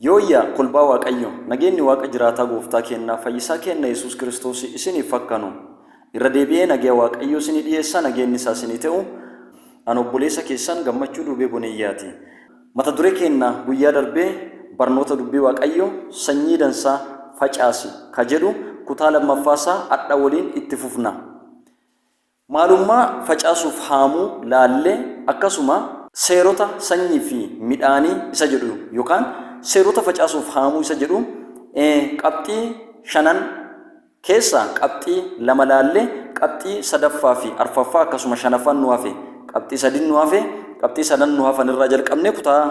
Yooyyaa kolbaa waaqayyo nageenni waaqa jiraataa gooftaa keennaa fayyisaa keenna yesuus kiristoosi isiniif hakkanu irra deebi'ee nageya waaqayyoo isinii dhiyeessaa nageenni isaa isinii te'u an obboleesa keessan gammachuu duubee boneyyaati mata dure keenna guyyaa darbee barnoota dubbii waaqayyo sanyii dansaa facaasi ka jedhu kutaa lammaffaa isaa adha woliin itti fufna Maalummaa facaasuuf haamuu laallee akkasuma seerota sanyii fi midhaanii isa jedhu yookaan seerota facaasuuf haamuu isa jedhu qabxii shanan keessaa qabxii lama laallee qabxii sadaffaa fi arfaffaa akkasuma shanaffaan nu hafe qabxii sadin nu hafe qabxii sadan nu hafan irraa jalqabnee kutaa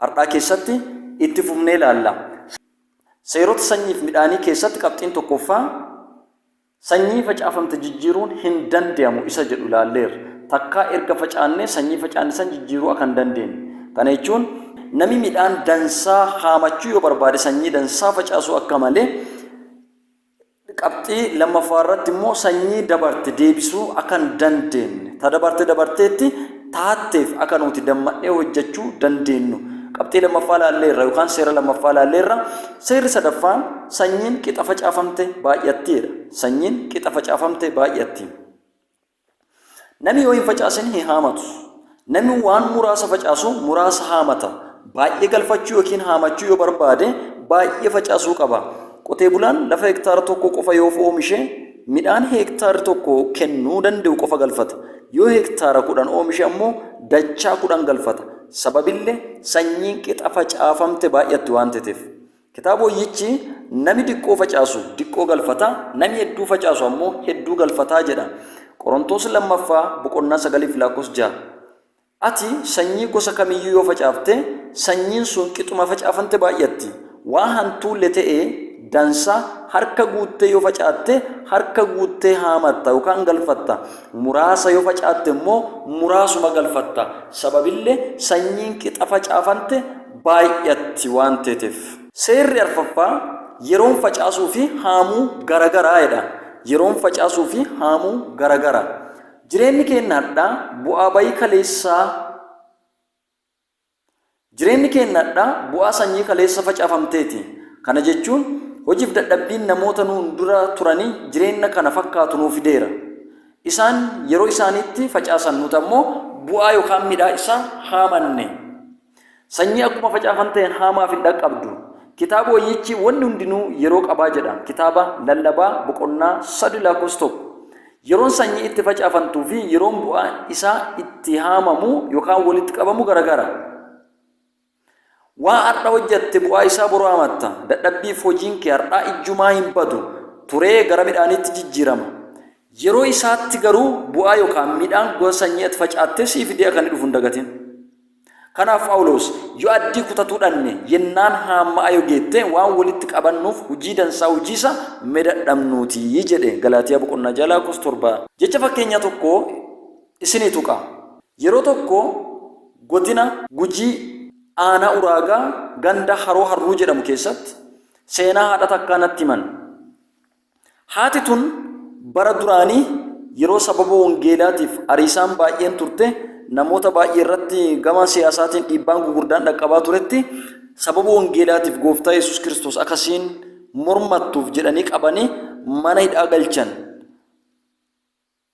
har'aa keessatti itti fufnee laalla. Seerota sanyii fi midhaanii keessatti qabxiin tokkoffaa Sanyii facaafamte jijjiiruun hin dandeamu isa jedhu ilaalleerra. Takkaa erga facaannee sanyii facaanne san jijjiiruu aka hin dandeenne. Kana jechuun nami midhaan dansaa haamachuu yoo barbaade sanyii dansaa facaasuu akka male, qabxii lammaffaa irratti immoo sanyii dabarte deebisuu aka hin dandeenne. Ta dabarte dabarteetti. taatteef akka nuti damma'nee hojjechuu dandeennu qabxii lammaffaa laalleerra yookaan seera lammaffaa laalleerra. Seerri sadaffaan sanyiin qixa facaafamte baay'atti jedha. Sanyiin qixa facaafamte baay'atti. Namni yoo hin facaasin hin haamatu. Namni waan muraasa facaasu muraasa haamata. Baay'ee galfachuu yookiin haamachuu yoo barbaade baay'ee facaasuu qaba. Qotee bulaan lafa hektaara tokko qofa yoo oomishe Midhaan hektaarri tokko kennuu danda'u qofa galfata. Yoo hektaara 10 oomishe ammoo dachaa 10 galfata. Sababille sanyiin qixa facaafamte baay'atti waan tetef. Kitaab Woyyichi nami diqqoo facaasu diqqoo galfata, nami hedduu facaasu ammoo hedduu galfata jedha. Qorontoos 2ffaa boqonnaa 9 fi laakkos 6. Ati sanyii gosa kam iyyuu yoo facaafte, sanyiin sun qixuma facaafamte baay'atti. Waa hantuulle te'e dansa harka guuttee yoo facaatte, harka guuttee haamatta yookaan galfatta, muraasa yoo facaatte immoo muraasuma galfatta, sababille sanyiin qixa facaafante baay'atti waan teeteef. Seerri arfaffaa, Yeroon facaasuu fi haamuu gara gara jedha. Yeroon facaasuu fi haamuu gara gara. Jireenni keenna adhaa bu'aa bayii kaleessaa Jireenni keenna adhaa bu'aa sanyii kaleessa facaafamteeti. Kana jechuun hojiif dadhabbiin namoota nuun dura turanii jireenna kana fakkaatu nuu fideera. Isaan yeroo isaaniitti facaasan nuti ammoo bu'aa yookaan midhaa isaa haamanne. Sanyii akkuma facaafan ta'een haamaaf hin dhaqqabdu. Kitaaba wayyichi wanni hundinuu yeroo qabaa jedha. Kitaaba lallabaa boqonnaa 3 lakkoofsa 1. Yeroon sanyii itti facaafantuu fi yeroon bu'aa isaa itti haamamu yookaan walitti qabamu garagara. Waa har'a hojjatte bu'aa isaa boru haamatta. Dadhabbiif hojiin kee har'aa ijjumaa hin badu. Turee gara midhaaniitti jijjiirama. Yeroo isaatti garuu bu'aa yookaan midhaan gosa sanyii ati facaattee siif dee'a kan dhufu hin dagatin. Kanaaf Phaawuloos, Yo addii kutatuu dhanne, yennaan haamma'a yo geette, waan wolitti qabannuuf hujii dansaa hujiisa me dadhamnuu ti jedhe. Galaatiyaa boqonnaa 6 lakkoofsa 7. Jecha fakkeenyaa tokko isinii tuqa. Yeroo tokko godina Gujii aanaa Uraagaa ganda Haroo Harruu jedhamu keessatti seenaa haadha takkaa natti himan. Haati tun bara duraanii yeroo sababa wangeelaatiif ariisaan baay'een turte namoota baay'ee irratti gama siyaasaatiin dhiibbaan gugurdaan dhaqqabaa turetti sababa wangeelaatiif gooftaa Yesuus Kiristoos akkasiin mormattuuf jedhanii qabanii mana hidhaa galchan.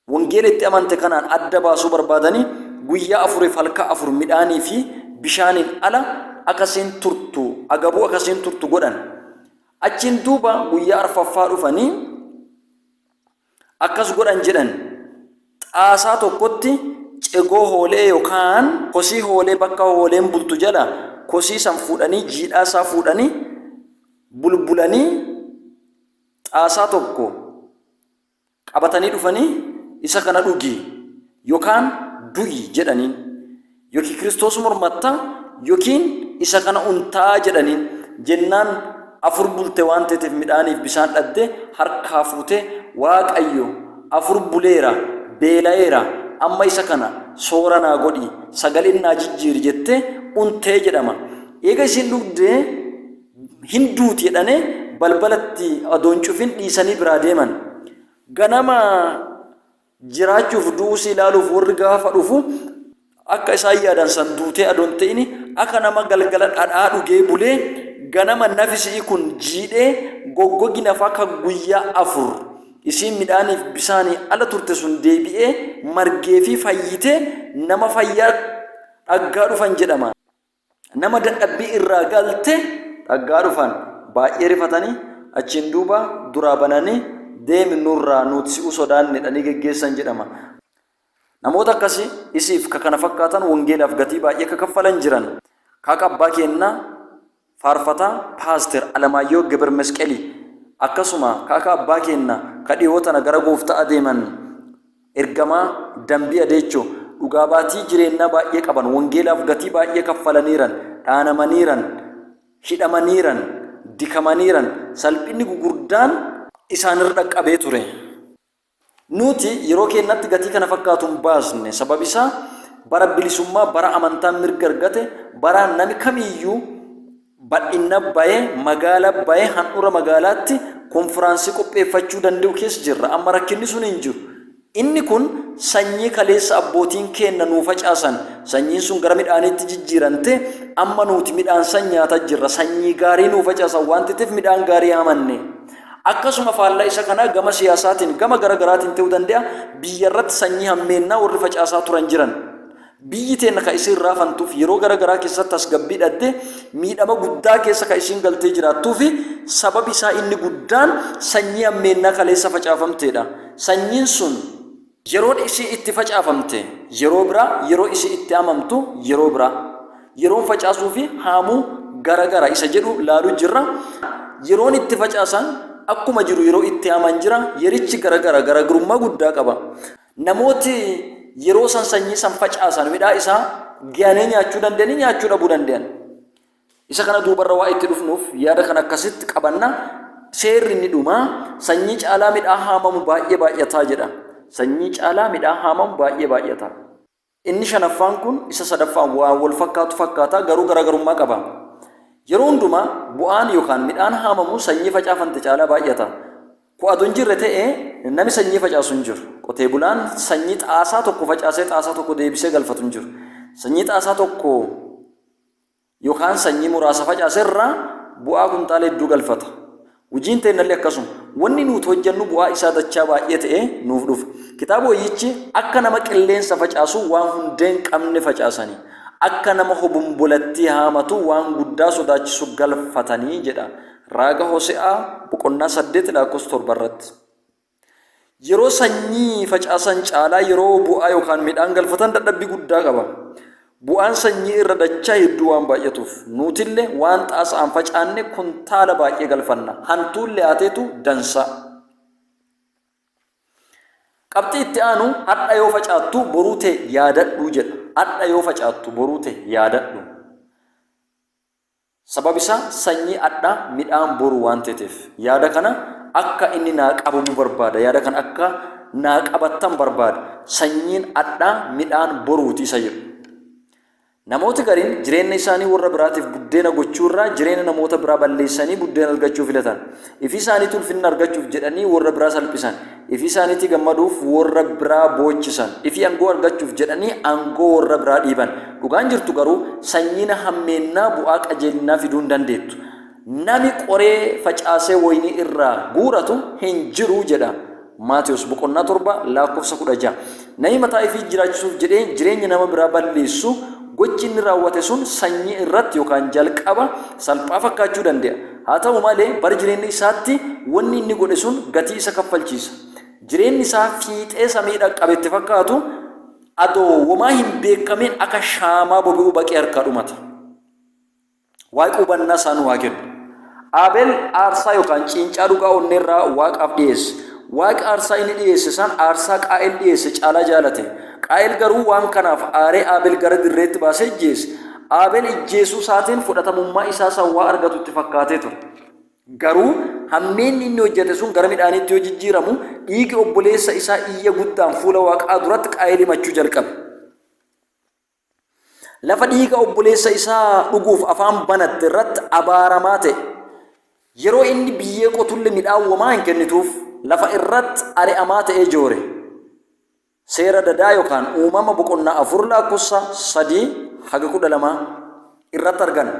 Wangeela itti amante kanaan adda baasuu barbaadani guyyaa afuriif halka afur midhaanii fi bishaaniin ala aka isiin turtu, agabuu aka isiin turtu godhan. Achiin duuba guyyaa arfaffaa dhufanii akkas godhan jedhan, Xaasaa tokkotti cegoo hoole'ee yookaan kosii hoolee bakka hooleen bultu jala kosii san fuudhanii jiidhaa isaa fuudhanii bulbulanii xaasaa tokko qabatanii dhufanii isa kana dhugi yokaan du'i jedhaniin. Yookiin Kiristoos mormatta yookiin isa kana untaa jedhaniin. Jennaan afur bulte waan teeteef midhaaniif bisaan dhabde harkaa fuute Waaqayyo afur buleera beela'eera amma isa kana soora naa godhi sagaleen naa jijjiiri jette untee jedhama. Eega isiin dhugdee hin duuti jedhanii balbala itti odoo hin cufin dhiisanii biraa deeman. Ganama jiraachuuf du'uusii ilaaluuf warri gaafa dhufu akka isaan yaadan san duutee adoo hin ta'in akka nama galgala dhadhaa dhugee bulee ganama nafi si'i kun jiidhee goggogi nafa akka guyyaa afur isiin midhaaniif bisaanii ala turte sun deebi'ee margee fi fayyitee nama fayyaa dhaggaa dhufan jedhama. nama dadhabbii irraa galte dhaggaa dhufan baay'ee rifatanii achiin duuba duraa bananii deemi nurraa nuut si'u sodaanne dhanii geggeessan jedhama. Namoota akkasi isiif ka kana fakkaatan wangeelaaf gatii baay'ee ka kaffalan jiran. Kaaka abbaa keennaa faarfataa paaster Alamaayyoo Gebir Mesqelii akkasuma kaaka abbaa keennaa ka dhiyoo tana gara goofta'a deeman Ergamaa, Dambii Adeechoo, Dhugaa Baatii jireennaa baay'ee qaban, Wangeelaaf gatii baay'ee kaffalaniiran, dhaanamaniiran, hidhamaniiran, dikamaniiran, salphinni gugurdaan. isaan irra dhaqqabee ture. Nuuti yeroo keennatti gatii kana fakkaatu hin baasne, sababi isaa bara bilisummaa, bara amantaan mirga argate, bara nami kamiiyyuu. Bal'inna baye magaala baye handhura magaalaatti konfiraansii qopheeffachuu dande'u keessa jirra. Amma rakkinni sun hin jiru. Inni kun sanyii kaleessa abbootiin keenna nuu facaasan, sanyiin sun gara midhaaniitti jijjiirante, amma nuuti midhaan san nyaata jirra. Sanyii gaarii nuu facaasan waan teteef midhaan gaarii hamanne. Akkasuma faallaa isa kanaa gama siyaasaatiin, gama gara garaatiin te'uu dande'a, biyyarratti sanyii hammeennaa worri facaasaa turan jiran. Biyyi teenna ka isiin raafantuuf yeroo gara garaa keessatti tasgabbii dhaddee miidhama guddaa keessa ka isiin galtee jiraattuu fi sababi isaa inni guddaan sanyii hammeennaa kaleessa facaafamtee dha. Sanyiin sun. Yeroon isiin itti facaafamte yeroo biraa, yeroo isiin itti haamamtu yeroo biraa. Yeroon facaasuu fi haamuu gara gara isa jedhu laaluu jirra. Yeroon itti facaasan akkuma jiru yeroo itti haaman jira. Yerichi gara gara garagrummaa guddaa qaba. Namooti yeroo san sanyii san facaasan midhaa isaa gayanii nyaachuu dandayanii nyaachuu dhabuu dandayan. Isa kana duubarra waa itti dhufnuuf yaada kana akkasitti qabanna. Seerri inni dhumaa sanyii caalaa midhaa haamamu baay'ee baay'ataa jedha. Sanyii caalaa midhaa haamamu baay'ee baay'ataa. Inni shanaffaan kun isa sadaffaan waan wal fakkaatu fakkaata, garuu garaagarummaa qaba. Yeroo hundumaa bu'aan yookaan midhaan haamamu sanyii facaafante caalaa baay'ata. Ku adoo hin jirre ta'e nami sanyii facaasu hin jiru. Qotee bulaan sanyii xaasaa tokko facaasee xaasaa tokko deebisee galfatu hin jiru. Sanyii xaasaa tokko Yookaan sanyii muraasa facaase irraa bu'aa kuntaala hedduu galfata. Hujiin teennallee akkasuma. Wanni nuuti hojjannu bu'aa isaa dachaa baay'ee ta'ee nuuf dhufa. Kitaaba woyyichi akka nama qilleensa facaasuu waan hundee hin qabne facaasanii, akka nama hobombolattii haamatuu waan guddaa sodaachisu galfatanii jedha. Raaga Hose'aa boqonnaa 8 lakkoofsa 7 irratti. Yeroo sanyii facaasan caalaa yeroo bu'aa yookaan midhaan galfatan dadhabbii guddaa qaba. Bu'aan sanyii irra dachaa hedduu waan baay'atuuf nuutille waan xaasa'aan facaanne kuntaala baay'ee galfanna. Hantuulle haateetu dansaa. Qabxii itti aanu hadha yoo facaattu boruu tee yaadadhu jedha. Hadha yoo facaattu boruu tee yaadadhu. Sababi isaa sanyii adhaa midhaan boru waan teteef. Yaada kana akka inni naa qabamu barbaada. Yaada kana akka naa qabattan barbaada. Sanyiin adhaa midhaan boruu ti isa jedhu. Namooti gariin jireenna isaanii worra biraatiif buddeena gochuu irraa jireenna namoota biraa balleessanii buddeena argachuu filatan. Ifi isaaniitii ulfinna argachuuf jedhanii worra biraa salphisan. Ifi isaaniitii gammaduuf worra biraa boochisan. Ifi angoo argachuuf jedhanii angoo worra biraa dhiiban. Dhugaan jirtu garuu, sanyiin hammeennaa bu'aa qajeelinnaa fiduu hin dandeettu. Nami qoree facaasee woyinii irraa guuratu hin jiru jedha. Maatewos boqonnaa 7 lakkoofsa 16. Namni mataa ifii jiraachisuuf jedhee jireenya nama biraa balleessu, gochi inni raawwate sun sanyii irratti yookaan jalqaba salphaa fakkaachuu dande'a. Haa ta'u malee, bara jireenya isaatti wanni inni godhe sun gatii isa kaffalchiisa. Jireenni isaa fiixee samii dhaqqabe itti fakkaatu, adoo womaa hin beekkamin akka shaamaa bobe'uu baqee harkaa dhumata. Waaqi hubannaa isaa nuu haa kennu. Aabel aarsaa yookaan ciincaa dhugaa onneerraa Waaqaaf dhiyeesse. Waaqi aarsaa inni dhiyeesse san aarsaa Qaa'el dhiyeesse caalaa jaalate. Qaa'el garuu waan kanaaf aaree Aabel gara dirreetti baasee ijjeese. Aabel ijjeesuu isaatiin fudhatamummaa isaa san waa argatu itti fakkaatee ture. Garuu hammeenni inni hojjate sun gara midhaaniitti yoo jijjiiramu, dhiigi obboleessa isaa iyya guddaan fuula Waaqaa duratti Qaa'el himachuu jalqabe. Lafa dhiiga obboleessa isaa dhuguuf afaan banatte irratti abaaramaa ta'e. Yeroo inni biyyee qotulle midhaan womaa hin kennituuf, lafa irratti ari'amaa ta'ee joore. Seera dadaa yokaan uumama boqonnaa 4 laakkossa 3 haga 12. irratti argana.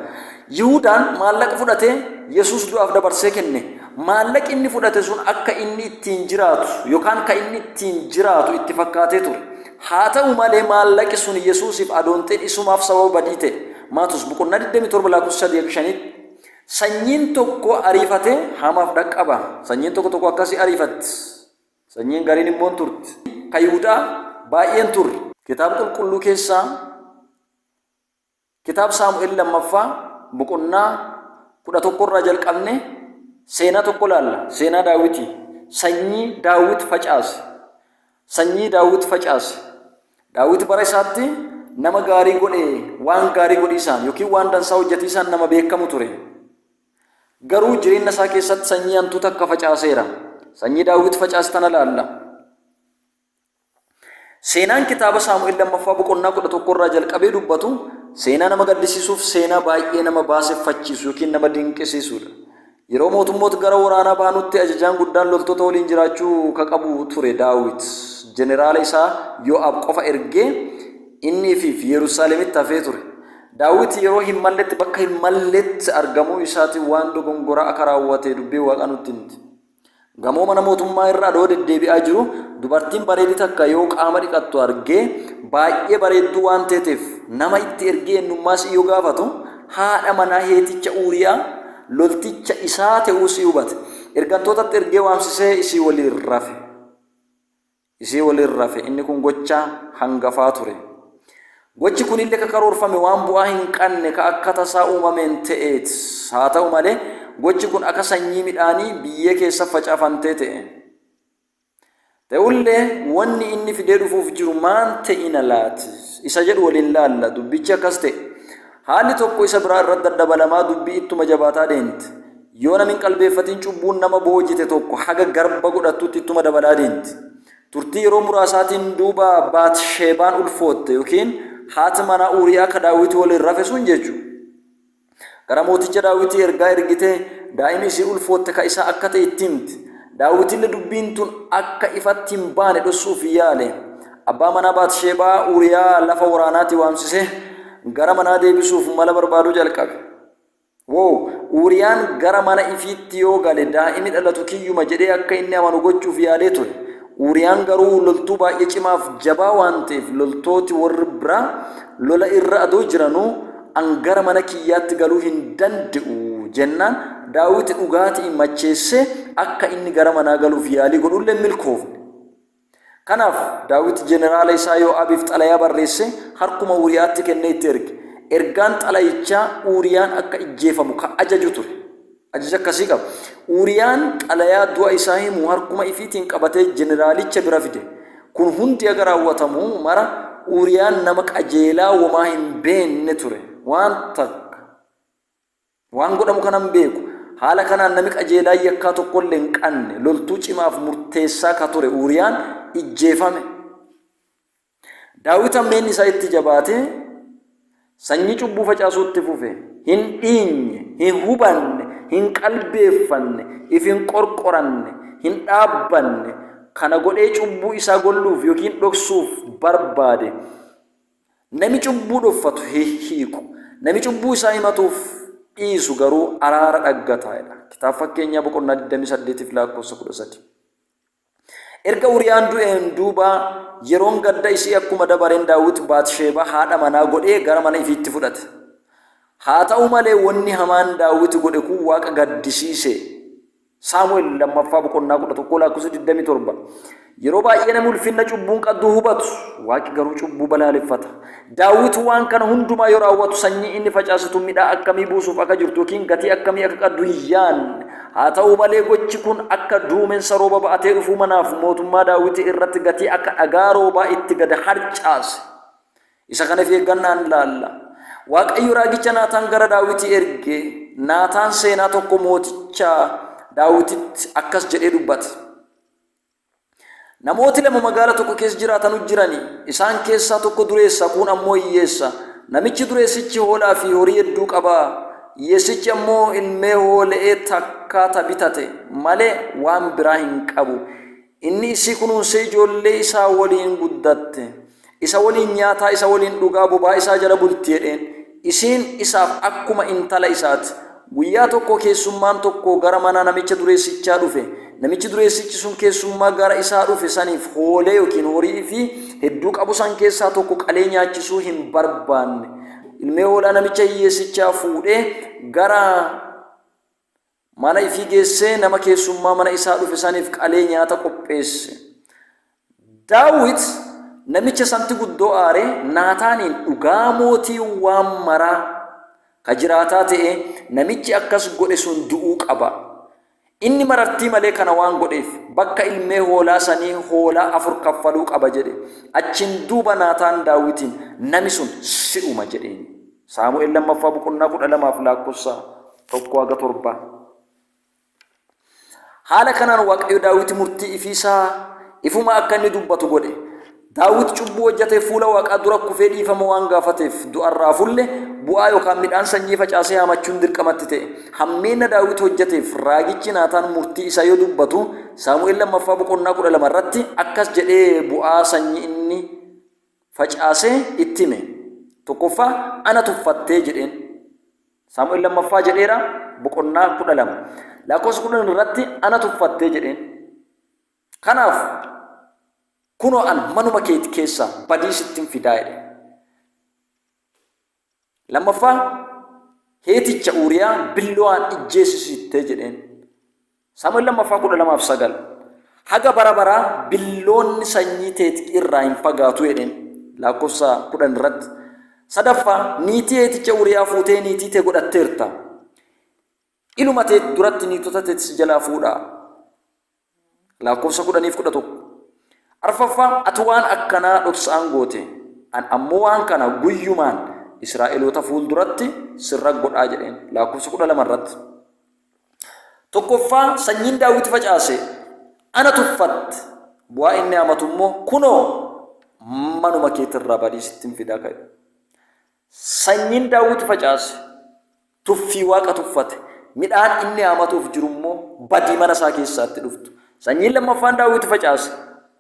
Yihudaan maallaqa fudhatee Yesuus du'aaf dabarsee kenne. Maallaqi inni fudhate sun akka inni ittiin jiraatu yookaan ka inni ittiin jiraatu itti fakkaatee ture. Haa ta'u malee maallaqi sun Yesuusiif adoonxin isumaaf sababa badii ta'e. Maatos boqonnaa 27 lakkoofsa 3 fi 5tti sanyiin tokko ariifatee hamaaf dhaqqaba. Sanyiin tokko tokko akkasii ariifatti. Sanyiin gariin immoo hin turte. Ka Yihudaa baay'een turre. Kitaaba qulqulluu keessaa Kitaaba Saamu'el lammaffaa boqonnaa kudha tokko irraa jalqabne seenaa tokko laalla. Seenaa Daawiti. Sanyii Daawit facaase. Sanyii Daawit facaase. Daawit bara isaatti nama gaarii godhe waan gaarii godhiisaan yookiin waan dansaa hojjetiisaan nama beekamu ture. Garuu jireenya isaa keessatti sanyii hantuu takka facaaseera. Sanyii Daawit facaase tana laalla. Seenaan kitaaba Saamu'el lammaffaa boqonnaa kudha tokko irraa jalqabee dubbatu seenaa nama gaddisiisuuf seenaa baay'ee nama baaseffachiisu yookiin nama dinqisiisudha. Yeroo mootummoota gara waraanaa baanutti ajajaan guddaan loltoota waliin jiraachuu ka qabu ture Daawit. Jeneraala isaa Yo'aab qofa ergee innii fi Yerusaalemitti hafee ture. Daawit yeroo hin malletti bakka hin malletti argamuu isaatiin waan dogongoraa akka raawwate dubbiin waaqaa nutti himti. Gamoo mana mootummaa irra adoo deddeebi'aa jiru dubartiin bareedi takka yoo qaama dhiqattu argee baay'ee bareedduu waan teeteef nama itti ergee ennummaa isii yoo gaafatu haadha manaa heeticha Uuriyaa lolticha isaa te'uu isii hubate. Ergantootatti ergee waamsisee isii woliin rafe. isii waliin rafe. Inni kun gocha hangafaa ture. Gochi kunille ka karoorfame waan bu'aa hin qanne ka akka tasaa uumameen te'eet. Haa ta'u malee, gochi kun akka sanyii midhaanii biyyee keessa facafantee te'e. Te'ullee, wonni inni fidee dhufuuf jiru maan te'ina laati? isa jedhu waliin laalla. Dubbichi akkas te'e. Haalli tokko isa biraa irratti daddabalamaa dubbii ittuma jabaataa deente. Yoo namni hin qalbeeffatin cubbuun nama boojite tokko haga garba godhattutti ittuma dabalaa deemti. Turtii yeroo muraasaatiin duuba Baat-Sheebaan ulfootte yookiin haati manaa Uuriyaa ka Daawiti woliin rafe sun jechu. Gara mooticha Daawitii ergaa ergitee daa'imi isii ulfootte ka isaa akka ta'e itti himte. Daawitille dubbiin tun akka ifatti hin baane dhossu'uuf yaale. Abbaa manaa Baat-Sheebaa Uuriyaa lafa woraanaatii waamsisee gara manaa deebisu'uuf mala barbaaduu jalqabe. Woow! Uuriyaan gara mana ifiitti yoo gale daa'imi dhalatu kiyyuma jedhee akka inni amanu gochuuf yaadee ture. Uuriyaan garuu loltuu baay'ee cimaaf jabaa waan ta'eef loltooti warri biraa lola irra adoo jiranuu an gara mana kiyyaatti galuu hin dande'u jennaan Daawiti dhugaati'iin macheessee akka inni gara manaa galuuf yaalii godhulle hin milkoofne. Kanaaf, Daawit jeneraala isaa Yoo'aabiif xalayaa barreessee harkuma Uuriyaatti kennee itti erge. Ergaan xalayichaa Uuriyaan akka ijjeefamu ka ajaju ture. Ajaja akkasii qaba. Uuriyaan xalayaa du'a isaa himu harkuma ifiitiin qabatee jeneraalicha bira fide. Kun hundi haga raawwatamu mara Uuriyaan nama qajeelaa womaa hin beenne ture. Waan takka. Waan godhamu kanan beeku. Haala kanaan nami qajeelaan yakkaa tokkolle hin qanne, loltuu cimaaf murteessaa ka ture Uuriyaan ijjeefame. Daawit hammeenni isaa itti jabaatee, sanyii cubbuu facaasuu itti fufe. Hin dhiinye, hin hubanne, hin qalbeeffanne, if hin qorqoranne, hin dhaabbanne. Kana godhee cubbuu isaa golluuf yookiin dhoksuuf barbaade. Nami cubbuu dhoffatu hihiiku, nami cubbuu isaa himatuuf dhiisu garuu araara dhaggata jedha. Kitaaba Fakkeenyaa boqonnaa 28 fi lakkoofsa 13. Erga Uriyaan du'een duuba yeroon gadda isii akkuma dabareen Daawit Baatisheebaa haadha manaa godhee gara mana ifiitti fudhate. Haa ta'u malee wanni hamaan Daawit godhe kun Waaqa gaddisiise. Saamu'el lammaffaa boqonnaa 11 lakkoofsa 27. Yeroo baay'ee namni ulfinna cubbuun qadduu hubatu, waaqi garuu cubbuu balaaleffata. Daawit waan kana hundumaa yoo raawwatu sanyii inni facaasitu midhaa akkamii buusuuf akka jirtu yookiin gatii akkamii akka qaddu hin yaanne. Haa ta'u malee gochi kun akka duumensa rooba ba'atee dhufuu manaaf mootummaa Daawit irratti gatii akka dhagaa roobaa itti gad harcaase. Isa kana if eeggannaan ilaalla. Waaqayyo raagicha Naataan gara Daawiti erge, Naataan seenaa tokko mooticha Daawititti akkas jedhee dubbate. Namooti lama magaala tokko keessa jiraatanu jirani. Isaan keessaa tokko dureessa, kuun ammoo hiyyeessa. Namichi dureessichi hoolaa fi horii hedduu qaba. Hiyyeessichi ammoo ilmee hoole'ee takkaa ta bitate malee waan biraa hin qabu. Inni isii kunuunsee ijoollee isaa woliin guddatte, isa woliin nyaataa, isa woliin dhugaa, bobaa isaa jala bulti jedheen. Isiin isaaf akkuma intala isaa ti. Guyyaa tokko keessummaan tokko gara mana namicha dureessichaa dhufe. Namichi dureessichi sun keessummaa gara isaa dhufe saniif hoolee yookiin horii ifii hedduu qabu san keessaa tokko qalee nyaachisuu hin barbaanne. Ilmee hoolaa namicha hiyyeessichaa fuudhee gara Mana ifii geessee nama keessummaa mana isaa dhufe saniif qalee nyaata qopheesse. Daawit namicha santi guddoo aaree Naataaniin, Dhugaa Mootiin Waan Maraa ka jiraataa te'ee, namichi akkas godhe sun du'uu qaba. Inni marartii malee kana waan godheef, bakka ilmee hoolaa sanii hoolaa afur kaffaluu qaba jedhe. Achiin duuba Naataan Daawitiin, Nami sun si'uma jedheen. Saamu'el lammaffaa boqonnaa kudha lamaaf laakkossa tokko haga torba. Haala kanaan Waaqayyo Daawit murtii ifiisaa ifuma akka inni dubbatu godhe. Daawit cubbuu hojjatee fuula Waaqaa dura kufee dhiifama waan gaafateef du'arraa fulle bu'aa yookaan midhaan sanyii facaasee haamachuun dirqamatti ta'e. Hammeenna Daawit hojjateef raagichi Naataan murtii isaa yoo dubbatu Saamu'el lammaffaa boqonnaa kudha lama irratti akkas jedhee bu'aa sanyii inni facaasee itti hime. Tokkoffaa ana tuffattee jedheen. Saamu'el lammaffaa jedheera boqonnaa kudha lama. Lakkoofsa kudhan irratti ana tuffattee jedheen. Kanaaf kunoo an manuma keeti keessaa badii sittin fidaa jedhe. Lammaffaa heeticha Uuriyaa billowaan ijjeesisitte jedheen. Saamu'el lammaffaa kudha lamaaf sagal. Haga bara baraa billoonni sanyii teeti irraa hin fagaatu jedheen. Laakkofsa kudhan irratti. Sadaffaa niitii heeticha Uuriyaa fuutee niitii tee godhatteerta. Iluma teet duratti niitota teet si jalaa fuudhaa. Laakkofsa kudhaniif kudha tokko. Arfaffaa ati waan akkanaa dhoksaan goote, an ammoo waan kana guyyumaan Israa'eloota fuul duratti sirra godhaa jedheen. Laakkofsa kudha lama irratti. Tokkoffaa sanyiin daawwiti facaase ana tuffatte bu'aa inni hamatu immoo kunoo manuma keetirraa badii sittin fidaa ka'e. Sanyiin daawwiti facaase Tuffii Waaqa tuffate. Midhaan inni haamatuuf jiru immoo badii mana isaa keessaatti dhuftu. Sanyiin lammaffaan Daawit facaase,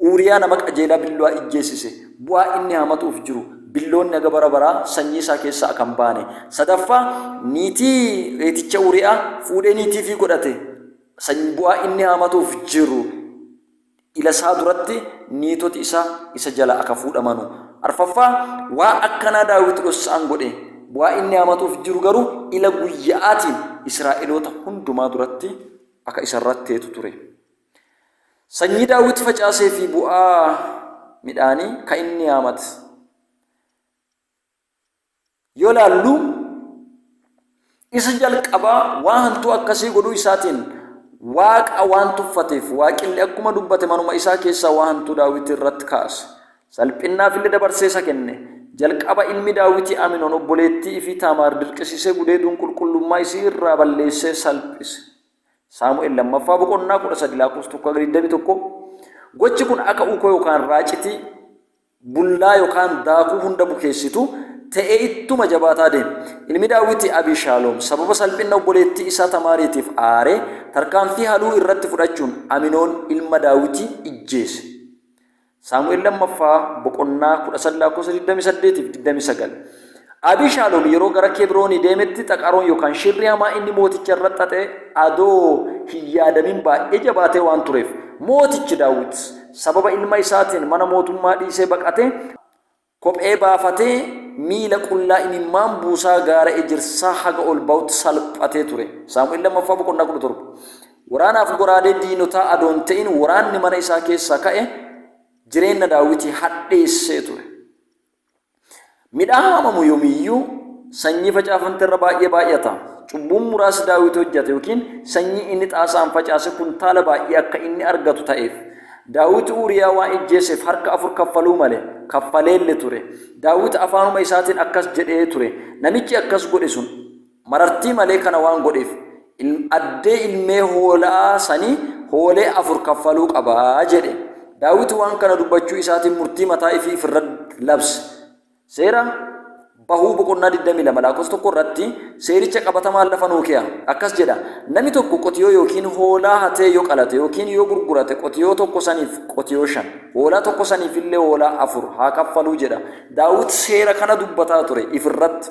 Uuriyaa nama qajeelaa billoa ijjeesise. Bu'aa inni haamatuuf jiru, Billoonni haga bara baraa sanyii isaa keessaa aka hin baane. Sadaffaa, Niitii reeticha Uuriyaa fuudhee niitii ifii godhate. Sanyi, Bu'aa inni haamatuuf jiru. ila isaa duratti niitoti isaa isa jalaa aka fuudhamanu. Arfaffaa, waan akkanaa Daawiti dhossa'aan godhe, waan inni haamatu'uuf jiru garuu ila guyya'aatiin Israa'eloota hundumaa duratti aka isa irratti teetu ture. Sanyii Daawiti facaasee fi bu'aa midhaanii ka inni haamate. yoo laallu isa jalqabaa waa hantuu akkasii godhuu isaatiin waaqa waan tuffateef waaqilli akkuma dubbate manuma isaa keessaa waa hantuu daawwitii irratti kaase salphinnaaf illee dabarsee isa kenne jalqaba ilmi daawwitii aminoon obboleettii fi taamaar dirqisiisee gudeeduun qulqullummaa isii irraa balleessee salphise saamu'eel lammaffaa boqonnaa kudha sadi laakkoofsa tokko hanga digdamii tokko gochi kun akka uukoo yookaan raacitii bullaa yokaan daakuu hunda bukeessitu ta'ee ittuma jabaataa deeme. Ilmi Daawiti Abiishaaloom sababa salphinna obboleettii isaa Tamaariitiif aaree tarkaanfii haluu irratti fudhachuun Aminoon ilma Daawiti ijjeese. Saamu'el Lammaffaa boqonnaa 13 lakkoofsa 28 fi 29. Abiishaalom yeroo gara Kebroonii deemetti xaqaroon yookaan shirri hamaa inni mooticha irra xaxe adoo hin yaadamin baay'ee jabaatee waan tureef, Mootichi Daawit sababa ilma isaatiin mana mootummaa dhiisee baqate, kophee baafatee, miila qullaa imimmaan buusaa gaara ejersaa haga ol ba'utti salphatee ture. Saamu'el Lammaffaa boqonnaa 17. Waraanaaf goraadee diinotaa adoo hin ta'in waraanni mana isaa keessaa ka'e jireenna Daawitii hadheessee ture. Midhaan haamamu yomiyyuu sanyii facaafamte irra baay'ee baay'ata. Cubbuun muraasi Daawit hojjate yookiin sanyii inni xaasaan facaase kuntaala baay'ee akka inni argatu ta'eef. Daawit Uuriyaa waan ijjeeseef harka afur kaffaluu male, kaffaleelle ture. Daawit afaanuma isaatiin akkas jedhee ture, Namichi akkas godhe sun Marartii malee kana waan godheef addee ilmee hoolaa sanii hoolee afur kaffaluu qaba jedhe. Daawit waan kana dubbachuu isaatiin murtii mataa ifii if irra labse. Seera Bahuu boqonnaa 22 laakos 1 irratti seericha qabatamaan lafa nuu kee'a. Akkas jedha, Nami tokko qotiyoo yookiin hoolaa hatee yo qalate yookiin yo gurgurate qotiyoo tokko saniif qotiyoo shan, hoolaa tokko saniifillee hoolaa afur haa kaffaluu jedha. Daawit seera kana dubbataa ture if irratti.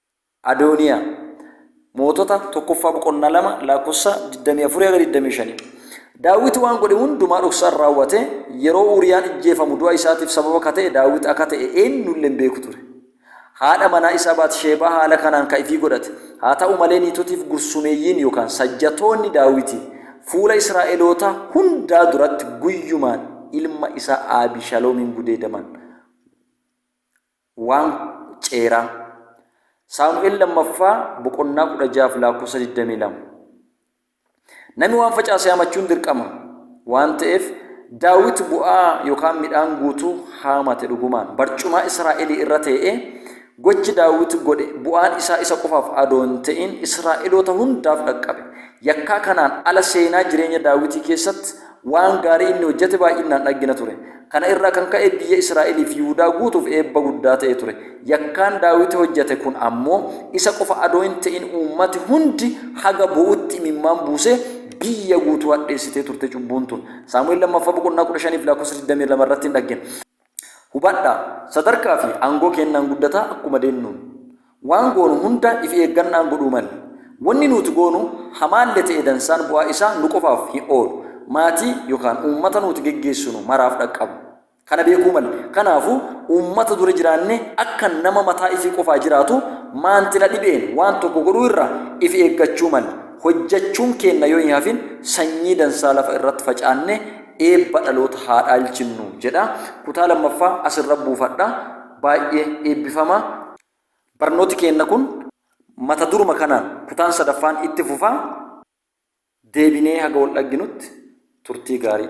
Adooniyaa. Mootota tokkoffaa boqonnaa 2 laakkossa 24-25. Daawit waan godhe hundumaa dhoksaan raawwate, yeroo Uuriyaan ijjeefamu du'a isaatiif sababa ka ta'e Daawit akka ta'e eennulle hin beeku ture. Haadha manaa isaa Baatisheebaa haala kanaan ka ifii godhate. Haa ta'u malee niitotiif gursumeeyyiin yookaan sajjatoonni Daawitii fuula Israa'elootaa hundaa duratti guyyumaan ilma isaa Aabishaloomiin gudeedaman. 1 Seeraa Saamu'el 2ffaa boqonnaa 16 fi lakkoofsa 22 Nami waan facaase haamachuun dirqama waan ta'eef Daawit bu'aa yookaan midhaan guutuu haamate dhugumaan barcumaa Israa'elii irra tee'ee gochi Daawit godhe bu'aan isaa isa qofaaf adoo hin ta'in Israa'eloota hundaaf dhaqqabe. Yakkaa kanaan ala seenaa jireenya Daawitii keessatti Waan gaarii inni hojjete baay'innaan dhaggina ture. Kana irraa kan ka'e biyya Israa'elii fi Yihudaa guutuuf eebba guddaa ta'ee ture. Yakkaan Daawiti hojjete kun ammoo isa qofa adoo hin ta'in uummati hundi haga bo'utti imimmaan buusee biyya guutuu hadheessitee turte cubbuun tun. Saamu'el 2ffaa boqonnaa 15 fi lakkoofsa 22 irratti hin dhaggina. Hubadhaa, sadarkaa fi aangoo keennaan guddataa akkuma deennuun, waan goonu hunda ifi eeggannaan godhuu malle. Wonni nuuti goonu hamaalle te'e dansaan bu'aa isaa nu qofaaf hin oolu, maatii yokaan uummata nuuti geggeessinu maraaf dhaqqaba. Kana beekuu malle. Kanaafu, uummata dura jiraanne akka nama mataa ifii qofaa jiraatu maanti na dhibe'een waan tokko godhuu irra ifi eeggachuu malle. Hojjachuun keenna yoo hin hafin sanyii dansaa lafa irratti facaanne eebba dhaloota haa dhaalchinnu jedha. Kutaa lammaffaa asirra buufadha. Baay'ee eebbifama. Barnooti keenna kun mata duruma kanaan kutaan sadaffaan itti fufa. Deebinee haga wal dhagginutti turtii gaarii.